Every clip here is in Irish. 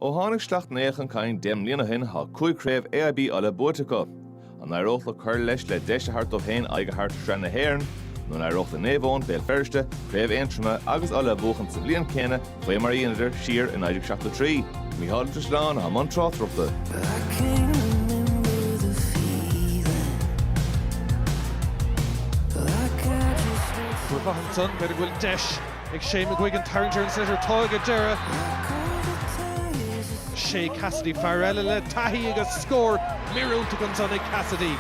Ó tháinig Sleacht Néill chun cinn deich mbliana ó shin, tá cúig chraobh AIB Uladh buaite acu. An n-éireodh leo cur leis le deis a thabhairt dóibh féin aghaidh a thabhairt ar Shraith na hÉireann? Nó an éireodh le Naomh Eoin, Béal Feirste, Craobh Aontroma agus Uladh a bhuachan sa bhliain céanna faoi mar a dheineadar siar i 1973? Mícheál Ó Drisleáin atá i mbun tráchtaireachta. Fuar bán ansan, b'fhéidir go bhfuil deis. Ag Shane McGuigan tarraingt ar an sliotar táirge ag deireadh. Shea Cassidy fear eile le taithí agus scór míorúilteach ansan ag Cassidy.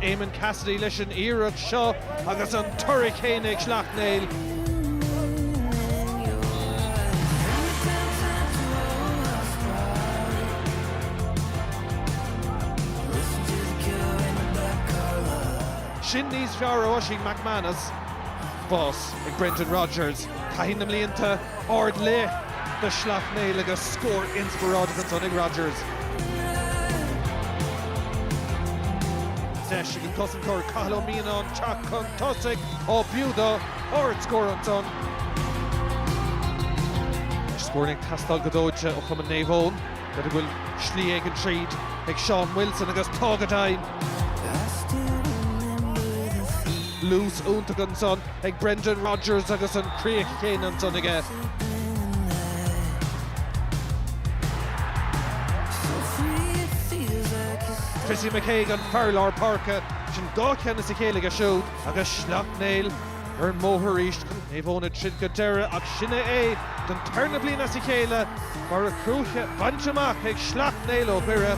Éamonn Cassidy leis an iarracht seo agus an toradh céanna ag Sleacht Néill. sin níos fearr ó Oisín McManus. Spás ag Brendan Rogers, taithí na mblianta ar leith do Shleacht Néill agus scór inspioráideach ansan ag Rogers. Deis ag an gcosantóir Cathal Ó Mianáin teacht chun tosaigh, á b'fhiú dó, ardscór ansan. Scóranna ag teastáil go dóite ó chumann Naomh Eoin. N'fheadar an bhfuil slí éigin tríd ag Seán Wilson agus tá go deimhin! Luas iontach ansan ag Brendan Rogers agus an chríoch chéanna ansan aige. Chrissy McKaigue an fear lár páirce, sin dhá cheann as a chéile aige siúd agus Sleacht Néill. ar an mbóthar arís, Naomh Eoin ag troid go deireadh, ach sin é é don tarna bliain as a chéile, barr an chúige bainte amach ag Sleacht Néill ó Dhoire.